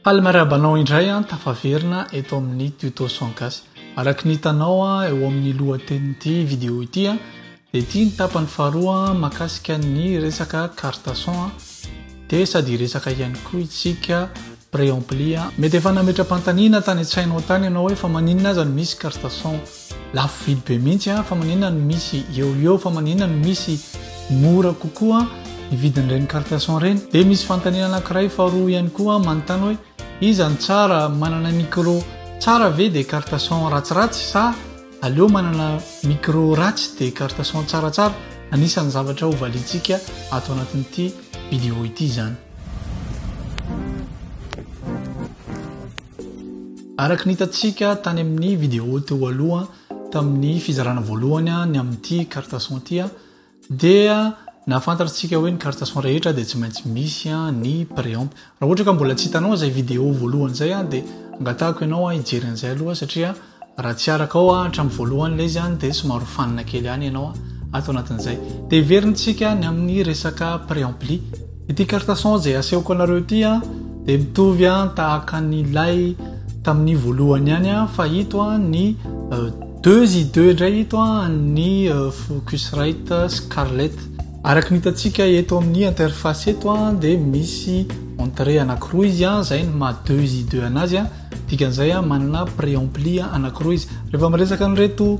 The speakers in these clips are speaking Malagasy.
Palmaraba anao indray an, tafaverina eto amin'ny tuto son gasy. Araky ny hitanao eo amin'ny lohatenin'ity vidéo ity an, dia ity ny tapany faharoa makasika ny resaka carte son an, dia sady hiresaka ihany koa itsika préampli an. Mety efa nametra-pantaniana tany an-tsainao tany ianao hoe fa maninona aza no misy carte son. Lafo vidy be mihitsy fa maninona no misy eo ho eo fa maninona no misy mora kokoa ny vidin'ireny carte son ireny? Dia misy fanontaniana anankiray faharoa ihany koa manontany hoe iza no tsara manana micro tsara ve dia carte son ratsiratsy sa aleo manana micro ratsy dia carte son tsaratsara? Anisan'ny zavatra ho valiantsika ato anatin'ity vidéo ity izany. Araka ny hitantsika tany amin'ny vidéo teo aloha tamin'ny fizarana voalohany ny amin'ity carte son ity dia nahafantarantsika hoe ny carte son rehetra dia tsy maintsy misy ny préamp. Raha ohatra ka mbola tsy hitanao izay vidéo voalohany izay dia angatahako ianao hijery an'izay aloha satria raha tsy araka ao hatramin'ny voalohany ilay izy dia somary ho fanina kely ihany ianao ato anatin'izay. Dia heverintsika ny amin'ny resaka préampli. Ity carte son izay asehoko anareo ity an dia mitovy an tahaka an'ilay tamin'ny voalohany ihany an fa ito an ny euh, deux i deux indray ito an ny euh, Focusrite Scarlett araka ny hitantsika eto amin'ny interface eto an dia misy entrée anankiroa izy an izay ny maha deux i deux anazy an dikan'izay an manana préampli anankiroa izy rehefa miresaka an'ireto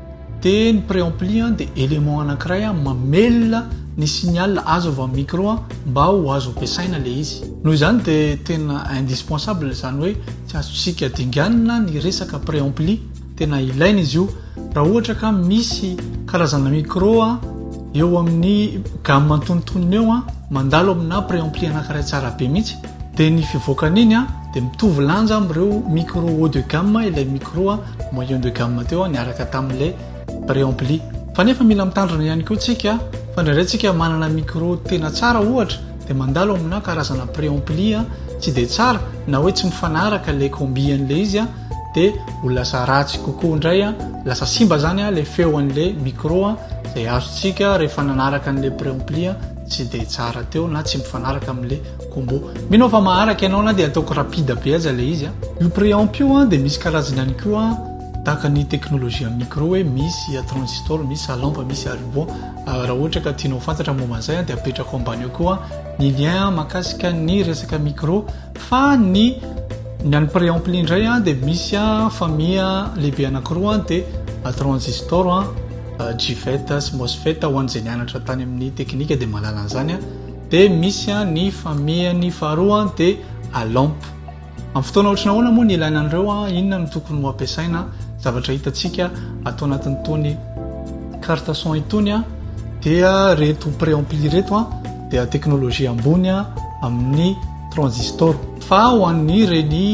dia ny préampli dia élément anankiray mamelona ny signal azo avy amin'ny micro mba ho azo ampiasaina ilay izy. Noho izany dia tena indispensable izany hoe tsy azontsika dinganina ny resaka préampli, tena ilaina izy io raha ohatra ka misy karazana micro eo amin'ny gamme antonontonony eo mandalo amina préampli anankiray tsara be mihitsy dia ny fivoakan'iny dia mitovy lanja amin'ireo micro haut de gamme ilay micro moyen de gamme teo niaraka tamin'ilay préampli. Fa nefa mila mitandrina ihany koa tsika fa indraindray tsika manana micro tena tsara ohatra dia mandalo amina karazana préampli tsy dia tsara na hoe tsy mifanaraka ilay combi an'ilay izy dia ho lasa ratsy kokoa indray lasa simba zany ilay feo an'ilay micro izay azontsika rehefa nanaraka an'ilay préampli tsy dia tsara teo na tsy mifanaraka amin'ilay Combo. Mino aho fa maharaka ianao na dia ataoko rapide be aza ilay izy a. Io preamp io dia misy karazany ihany koa tahaka ny teknolojia micro hoe misy transistor, misy à lampe, misy à ruban. Raha ohatra ka tianao ho fantatra ny momba an'izay dia apetrako ambany eo koa ny lien mahakasika ny resaka micro fa ny ny an'ny preampli indray dia misy famille lehibe anankiroa dia transistor, GFET sy MOSFET ho an'izay nianatra tany amin'ny teknika dia mahalala an'izany. de misy an ny famiany faharoa de a lampe am fotoana ohatry ny ahoana moa ny ilaina an'ireo an inona no tokony ho ampiasaina zavatra hitantsika ato anatin'itony carte son itony an dia reto pré ampli reto an dia teknolojia ambony an amin'ny transistor fa ho an'ny reny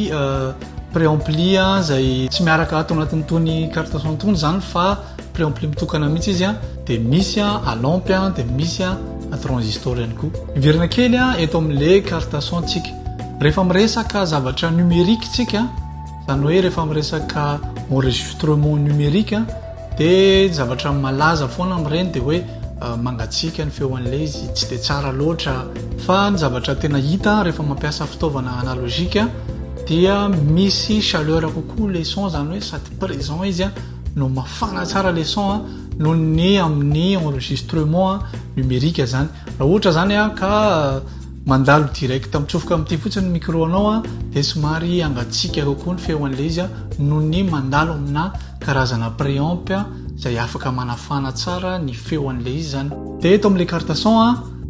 pré ampli an izay tsy miaraka ato anatin'itony carte son itony zany fa Préampli mitokana mihitsy izy an, dia misy an à lampe an, dia misy an à transistor ihany koa. Miverina kely an eto amin'le carte son tsika. Rehefa miresaka zavatra numérique tsika, izany hoe rehefa miresaka enregistrement numérique an, dia zavatra malaza foana amin'ireny dia hoe mangatsiaka ny feo an'le izy, tsy dia tsara loatra. Fa ny zavatra tena hita rehefa mampiasa fitaovana analogique dia misy chaleur kokoa le son, izany hoe sady présent izy an, no mafana tsara le son a noho ny amin'ny enregistrement numérique zany raha ohatra zany a ka euh, mandalo direct mitsofoka amin'ity fotsiny micro anao a dia somary angatsiaka kokoa ny feo an'ilay izy a noho ny mandalo amina karazana préamp izay afaka manafana tsara ny feo an'ilay izy zany dia eto amin'ilay carte son a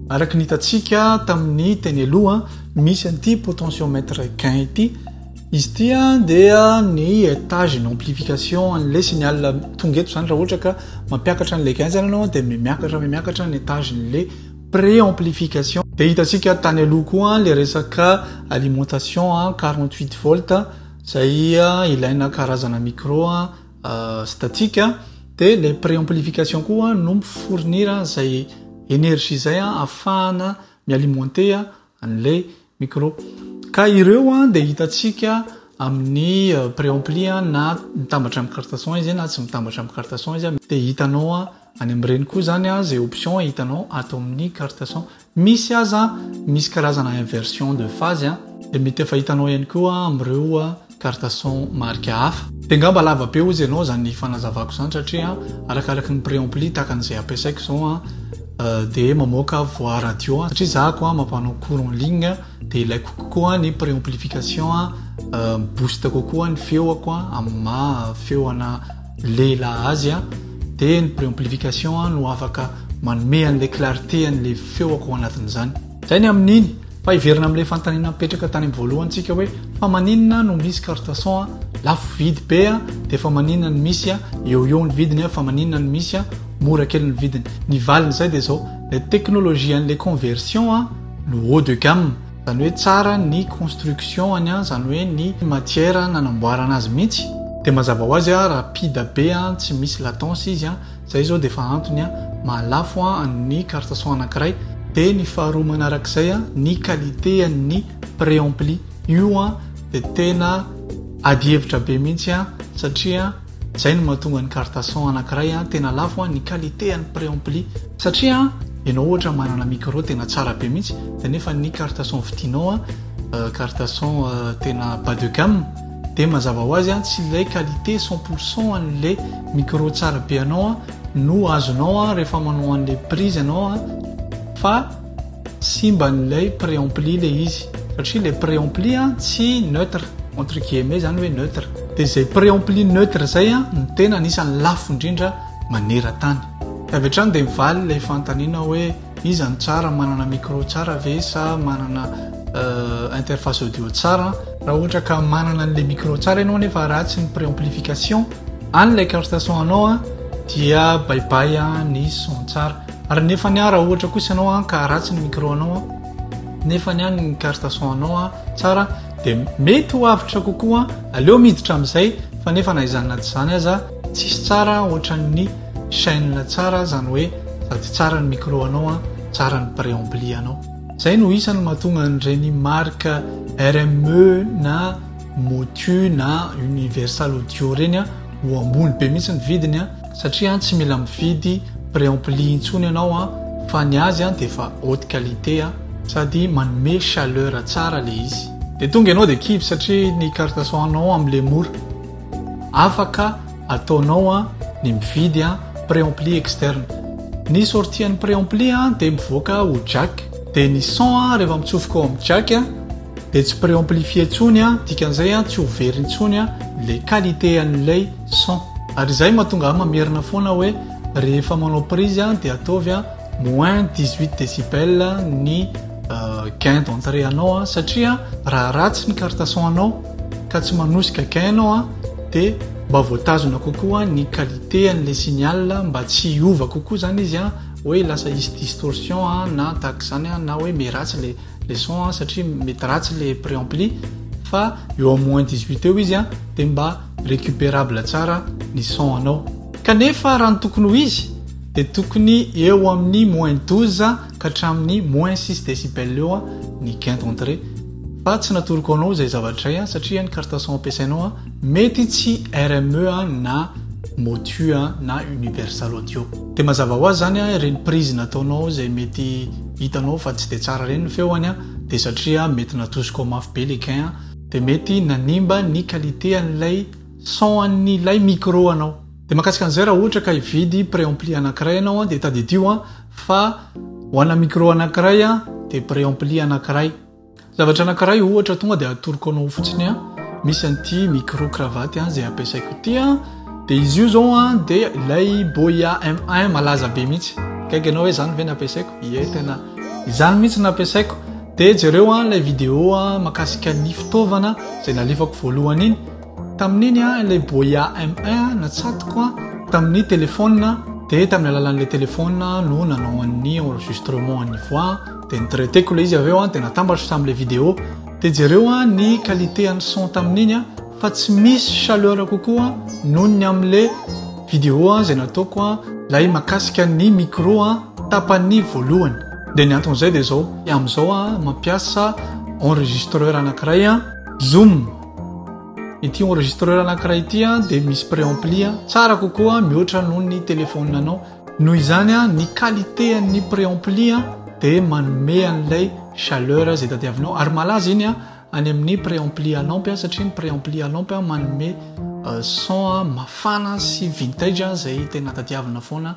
araka ny hitantsika tamin'ny teny aloha misy an'ity potentiomètre gain ity Izy ity dia ny etage ny amplification an'ilay signal tonga eto izany raha ohatra ka mampiakatra an'ilay gain izany ianao dia miakatra miakatra ny etage n'ilay pré amplification dia hitantsika tany aloha koa ilay resaka alimentation 48 volt izay ilaina karazana micro euh, statique dia ilay pré amplification koa no mifournir izay énergie izay ahafahana mialimenter an'ilay micro ka ireo an dia hitantsika amin'ny préampli na mitambatra amin'ny carte son izy na tsy mitambatra amin'ny carte son izy dia hitanao any amin'ireny koa izany an izay option hitanao ato amin'ny carte son misy aza misy karazana inversion de phase dia mety efa hitanao ihany koa amin'ireo carte son marika hafa. Dia ngamba lava be ozy ianao izany fanazavako izany satria arakaraky ny preampli takany izay ampiasaiko izao an dia mamoaka voix radio satria izahako an mampanao cours en ligne dia ilaiko kokoa ny preamplification an mi-boost kokoa ny feoko an amin'ny maha feo ana lehilahy azy an dia ny preamplification an no afaka manome an'ilay clarté an'ilay feoko ao anatin'izany. Izay ny amin'iny, fa hiverina amin'ilay fanontaniana nipetraka tany amin'ny voalohany tsika hoe fa maninona no misy carte son a lafo vidy be a dia fa maninona no misy a eo eo ny vidiny a fa maninona no misy a mora kely ny vidiny. Ny valin'izay dia izao, ilay teknolojia an'ilay conversion a no haut de gamme, izany hoe tsara ny construction-ny a, izany hoe ny matière nanamboarana azy mihitsy, dia mazava ho azy a rapide be a, tsy misy latence izy a, Zay zao dia efa antony a, maha lafo a ny carte son anakiray, dia ny faharoa manarak'izay a, ny qualité a ny préampli io a dia tena ady hevitra be mihintsy a, satria zay no mahatonga ny carte son anakiray a tena lafo a, ny qualité a ny préampli, satria enao ohatra manana micro tena tsara be mihintsy, dia nefa ny carte son vidinao a carte son tena bas de gamme, Dia mazava ho azy an tsy ilay qualité cent pour cent an'ilay micro tsara be anao an no azonao an rehefa manao an'ilay prise ianao an fa simba an'ilay préampli ilay izy satria ilay préampli an tsy neutre entre guillemets izany hoe neutre dia izay préampli neutre izay an no tena anisan'ny lafo indrindra maneran-tany. Avy hatrany dia mivaly ilay fanontaniana hoe. Iza no tsara, manana micro tsara ve sa manana interface audio tsara? Raha ohatra ka manana an'ilay micro tsara ianao nefa ratsy ny préamplification an'ilay carte son anao dia baibay ny son tsara. Ary nefa ny raha ohatra kosa ianao ka ratsy ny micro anao nefa ny ny carte son anao tsara dia mety ho avotra kokoa aleo miditra amin'izay fa nefa na izany na tsy izany aza Tsisy tsara otran'ny chaine tsara zany hoe sady tsara ny micro anao an tsara ny preambly anao. Zay no isany mahatonga an'ireny marque RME na Motu na Universal Audio reny an ho ambony be mihitsy ny vidiny an satria an tsy mila mividy preampli intsony ianao an fa ny azy an dia efa haute qualité an sady manome chaleur tsara le izy. Dia tonga ianao dia kivy satria ny carte son nao amle mora. Afaka ataonao an ny mividy an preampli externe. Ny sortie an'ny preampli an dia mivoaka ho jack. Dia ny son an rehefa mitsofoka ao amin'ny jack an dia tsy preamplifie intsony an dikan'izay an tsy ho very intsony an ilay qualité an'ilay son. Ary izay mahatonga ahy mamerina foana hoe rehefa manao prise an dia ataovy an moins dix huit decibel ny gain d'entrée anao an satria raha ratsy ny carte son anao ka tsy manosika gain ianao an dia mba voatazona kokoa ny qualité an'ilay signal mba tsy hiova kokoa zany izy an hoe lasa hisy distorsion an na tahaka izany an na hoe mety ratsy ilay le son an satria mety ratsy ilay préampli fa eo amin'ny moins 18 eo izy an dia mba récupérable tsara ny son anao kanefa raha ny tokony ho izy dia tokony eo amin'ny moins 12 ka hatramin'ny moins six decibels eo ny gain d'entrée fa tsy natoroko anao izay zavatra izay satria ny carte son ampiasainao mety tsy RME na motu na universal audio dia mazava ho azy izany ireny prise nataonao izay mety hitanao fa tsy dia tsara ireny ny feony dia satria mety natosiko mafy be le gain dia mety nanimba ny qualité an'ilay son an'ilay micro anao Dia mahakasika an'izay raha ohatra ka hividy préampli anankiray ianao dia tadidio fa ho ana micro anankiray dia préampli anankiray. Zavatra anankiray ohatra tonga dia atoroko anao fotsiny misy an'ity micro cravate izay ampiasaiko ity dia izy io izao dia ilay Boya M1 malaza be mihitsy. Gaigy anao hoe izany ve nampiasaiko? Ie tena izany mihitsy nampiasaiko. Dia jereo ilay vidéo makasika ny fitaovana izay nalefako voalohany iny. Tamin'iny an, ilay boia M1 natsatoko an, tamin'ny téléphone an, dia tamin'ny alalan'ilay téléphone an no nanao an'ny enregistrement an'ny voix an, dia ni-traiter-ko ilay izy avy eo an, dia natambatro tamin'ilay vidéo. Dia jereo an ny qualité an'ny son tamin'iny an, fa tsy misy chaleur kokoa noho ny amin'ilay vidéo an, izay nataoko an, ilay mahakasika ny micro an, tapany voalohany. Dia ny anton'izay dia izao, amin'izao an, mampiasa enregistreur anankiray an, zoom. Ity enregistreur anankiray ity dia misy préampli tsara kokoa mihoatra noho ny téléphone anao. Noho izany ny qualité an'ny préampli dia manome an'ilay chaleur izay tadiavinao ary malaza iny any amin'ny préampli à lampe satria ny préampli à lampe manome euh, son mafana sy vintage izay tena tadiavina foana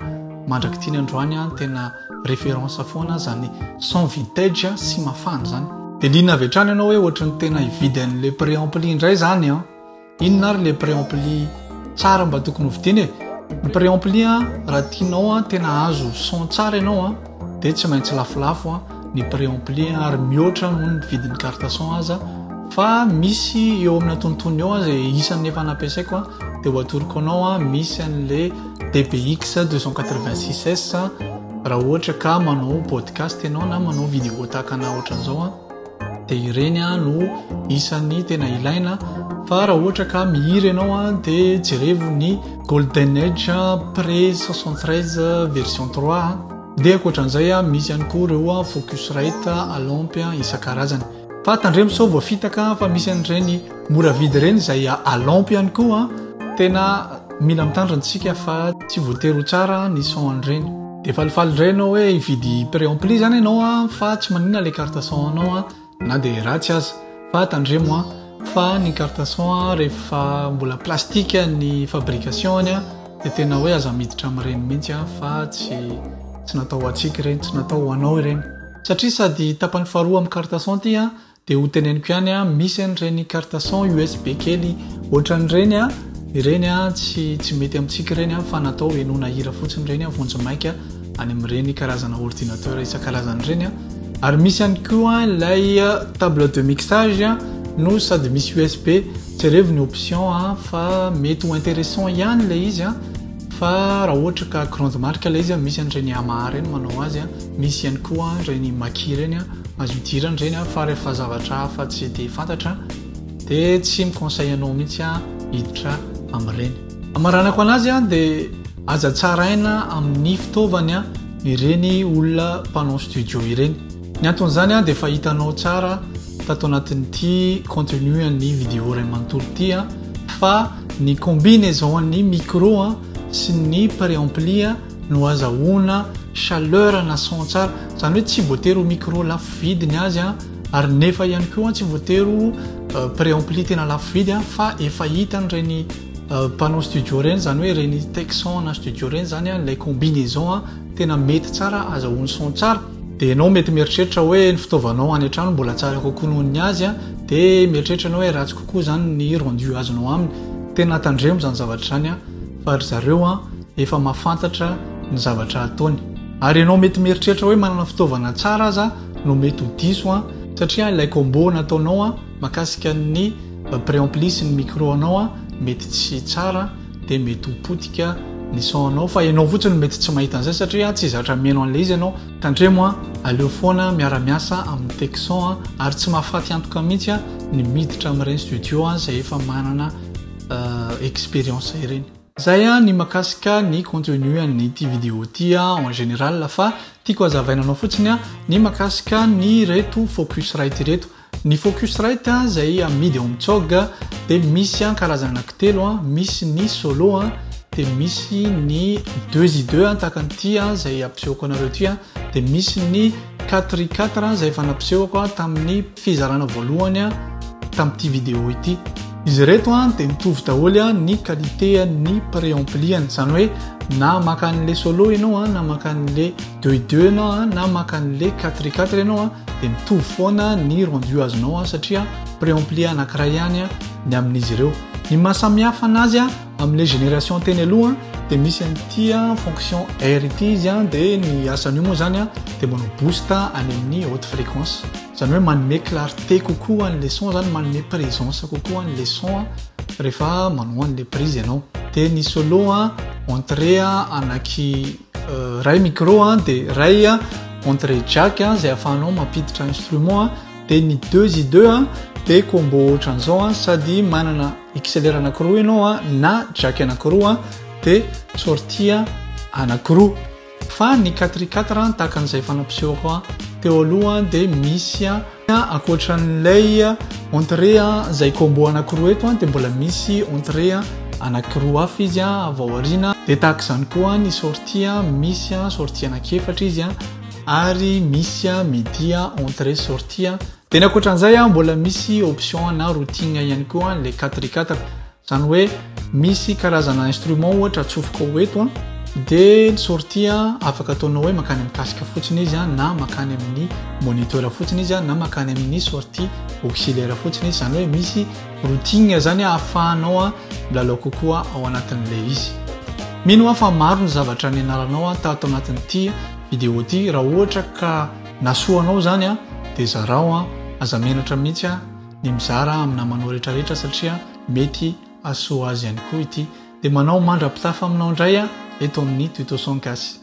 mandrak'ity ny androany tena Référence foana zany son vintage sy mafana zany. De liana avy hatrany ianao hoe ohatry ny tena hividy an'le préampli indray zany an! Inona ary le préampli tsara mba tokony hovidiana e? Ny préampli an raha tianao an tena hahazo son tsara ianao an de tsy maintsy lafolafo an ny préampli an ary mihoatra noho ny vidin'ny carte son aza fa misy eo amin'ny antonontonony eo an ze isan'ny efa nampiasaiko an de ho atoroko anao an misy an'le DBX 286S raha ohatra ka manao podcast ianao na manao vidéo tahaka na ohatran'izao a dia ireny a no isan'ny tena ilaina fa raha ohatra ka mihira ianao a dia jerevo ny golden age pré 73 version 3 dia ankoatran'izay a misy ihany koa ireo a focus rate alaompy a isan-karazany Fa tandremo sao voafitaka fa misy an'ireny mora vidy ireny izay alaompy ihany koa. Tena mila mitandrina antsika fa tsy voatery ho tsara ny son an'ireny. Dia falifaly indray ianao hoe hividy préampli izany ianao fa tsy maninona ilay carte son anao na dia ratsy aza. Fa tandremo fa ny carte son rehefa mbola plastique ny fabrication-ny dia tena hoe aza miditra amin'ireny mihitsy fa tsy natao ho antsika ireny, tsy natao ho anao ireny. Satria sady tapany faharoa amin'ny carte son ity an, dia ho teneniko ihany an, misy an'ireny carte son USB kely ohatran'ireny an, ireny an tsy tsy mety amintsika ireny an, fa natao henoana hira fotsiny ireny an, vonjy maika any amin'ireny karazana ordinateur isan-karazany ireny an. Ary misy ihany koa an ilay table de mixage an, no sady misy USB, jerevo ny option an, fa mety ho interessant ihany ilay izy an. Fa raha ohatra ka grande marque ilay izy, misy an'ireny Yamaha ireny manao azy, misy ihany koa ireny Mackie ireny, azo idirana ireny fa rehefa zavatra hafa tsy dia fantatra dia tsy mi-conseille anao mihitsy hiditra amin'ireny. Hamaranako an'azy dia aza tsaraina amin'ny fitaovana ireny olona mpanao studio ireny. Ny anton'izany dia efa hitanao tsara tato anatin'ity contenu an'ny vidéo iray manontolo ity fa ny combinaison an'ny micro sy ny préampli no azahoana chaleur na son tsara. Izany hoe tsy voatery ho micro lafo vidy ny azy ary nefa ihany koa tsy voatery ho préampli tena lafo vidy fa efa hitan'ireny mpanao studio ireny izany hoe ireny Tecson na studio ireny izany ilay combinaison tena mety tsara azahoany son tsara. Dia ianao mety mieritreritra hoe ny fitaovanao any an-trano mbola tsara kokoa noho ny azy, dia mieritreritra ianao hoe ratsy kokoa izany ny rendu azonao aminy. Tena tandremo izany zavatra izany fa ry zareo efa mahafantatra ny zavatra ataony. Ary ianao mety mieritreritra hoe manana fitaovana tsara aza no mety ho diso satria ilay combo nataonao mahakasika ny préampli sy ny micro anao mety tsy tsara. dia mety ho potika ny son-nao fa ianao fotsiny no mety tsy mahita an'izay satria tsy zatra mihaino an'ilay izy ianao. Tandremo an! Aleo foana miara miasa amin'ny tech son an! Ary tsy mahafaty antoka mihitsy an ny miditra amin'ireny studio an izay efa manana expérience ireny. Zay an ny makasika ny contenu an'ity video ity an en général fa tiako hazavaina anao fotsiny an ny makasika an'ireto focusrite ireto. Ny Focusrite izay amidy ao amin'ny cog dia misy karazana anankitelo, misy ny solo dia misy ny deux i deux tahaka an'ity izay hampisehoko anareo ity dia misy ny quatre i quatre izay efa nampisehoko tamin'ny fizarana voalohany tamin'ity vidéo ity. Izy ireto dia mitovy daholo ny qualité-n'ny préampli-ny, izany hoe na maka an'ilay solo ianao na maka an'ilay deux et deux ianao a na maka an'le quatre et quatre ianao a dia mitovy foana ny rendu azonao a satria préempli anankiray ihany a ny amin'izy ireo ny mahasamihafa anazy a amin'le génération teny aloha dia misy an'ity a fonction r ity izy a dia ny asan'io moa zany a dia manao boost any amin'ny haute fréquence zany hoe manome clarté kokoa an'le son zany manome présence kokoa an'le son a rehefa manao an'le prise ianao dia ny solo a entrée a anaky Ray micro a, de ray a, entre jack a, zay afahanao mampiditra instrument a, de ny deux y deux a, de combo ohatran'izao a, sady manana XLR anakiroa ianao a, na jack anakiroa a, de sortie a anakiroa. Fa ny quatre y quatre a, tahaka an'izay efa nampisehoko a teo aloha a, de misy a, Ankoatran'ilay entrée izay combo anankiroa eto dia mbola misy entrée anankiroa hafa izy avy ao aoriana. Dia tahaka izany koa ny sortie, misy sortie anankiefatra izy ary misy midi entrée sortie. Dia ny ankoatran'izay mbola misy option ana routing ihany koa ilay 4x4. Zany hoe misy karazana instrument ohatra atsofoka ho eto dia ny sortie afaka ataonao hoe makany amin'ny casque fotsiny izy na makany amin'ny moniteur fotsiny izy na makany amin'ny sortie auxiliaire fotsiny izy zany hoe misy routing zany ahafahanao milalao kokoa ao anatin'ilay izy mino aho fa maro ny zavatra ny anaranao tato anatin'ity vidéo ity raha ohatra ka nasoanao zany dia zarao aza menatra mihitsy ny mizara amin'ny namanao rehetra rehetra satria mety asoa azy ihany koa ity dia manao mandra-pitafa aminao indray a eto amin'ny tutoson kasy